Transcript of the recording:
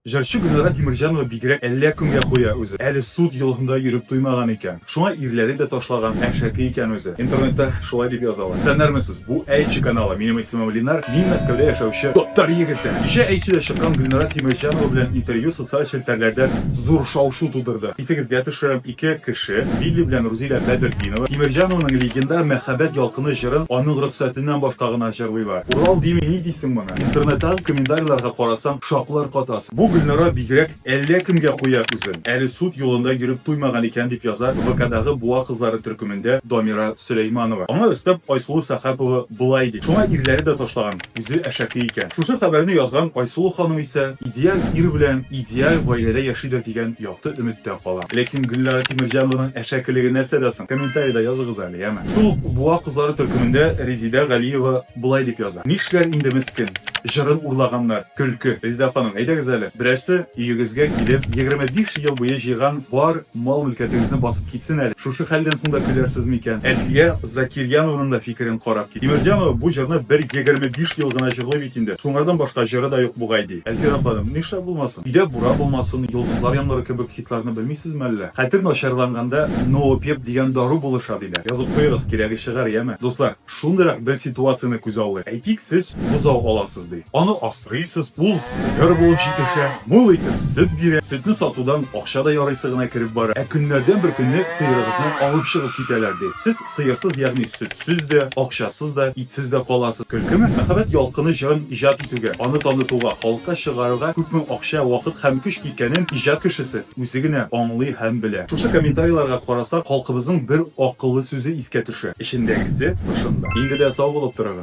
Җырчы Гөлнара Тимерҗанова бигрәк әллә кемгә куя үзе. Әле суд йоласында йөреп туймаган икән. Шуңа ирләре дә ташлаган, әшәке икән үзе. Интернетта шулай дип язалар. Исәннәрме сез? Бу Әйче каналы. Минем исемем Линар. Мин Мәскәүдә яшәүче татар егете. Кичә Әйчедә чыккан Гөлнара Тимерҗанова белән интервью социаль челтәрләрдә зур шау-шу тудырды. Исегезгә төшерәм, Ике кеше, Вилли белән Рузилә Бәдертдинова, Тимерҗанованың Легендар мәхәббәт ялкыны җырын аның рөхсәтеннән башка гына җырлыйлар. Урал дими ни дисең моны? Интернеттагы комментарийларга карасаң, шаклар катасың. Бу Гөлнара бигрәк әллә кемгә куя күзен, әле суд юлында йөреп туймаган икән, дип яза ВКдагы буа кызлары төркемендә Дамира Сөләйманова. Аңа өстәп Айсылу Сәхапова болай ди, Шуңа ирләре дә ташлаган. Үзе әшәке икән. Шушы хәбәрне язган Айсылу ханым исә идеаль ир белән идеаль гаиләдә яшидер дигән якты өметтә кала. Ләкин Гөлнара Тимерҗанованың әшәкелеге нәрсәдә соң? Комментарида языгыз әле, яме. Шул ук Буа кызлары төркемендә Резидә Галиева болай дип яза, Нишләр инде мескен, җырын урлаганнар, көлке. Резидә ханым, әйдәгез әле, берәрсе өегезгә килеп, егерме биш ел буе җыйган бар мал-мөлкәтегезне басып китсен әле. Шушы хәлдән соң да көләрсез микән? Әлфия Закирьянованың да фикерен карап Тимерҗанова бу җырны бер егерме биш ел гына җырлый бит инде. Шуңардан башка җыры да юк бугай, ди. Әлфирә ханым, нишләп булмасын? Өйдә буран булмасын, Йолдызлар яңгыры кебек хитларны белмисезме әллә? Хәтер начарланганда Ноопеп дигән дару булыша, диләр. Язып куегыз, кирәге чыгар, яме? Дуслар, шундыйрак бер ситуацияне күзаллыйк. Әйтик, сез бозау аласыз, ди. Аны. Сыйсыз пул сыер булып җитешә, мул итеп сөт бирә. Сөтне сатудан акча да ярыйсы гына кереп бара. Ә көннәрдән бер көнне сыерыгызны алып чыгып китәләр, ди. Сез сыерсыз, ягъни сөтсез дә, акчасыз да, итсез дә каласыз. Көлкеме? Мәхәббәт ялкыны җырын иҗат итүгә, аны танытуга, халыкка чыгаруга күпме акча, вакыт һәм көч киткәнен иҗат кешесе үзе генә аңлый һәм белә. Шушы комментарийларга карасак, халкыбызның бер акыллы сүзе искә төшә, Эчендәгесе тышында. Инде дә сау булып торыгыз!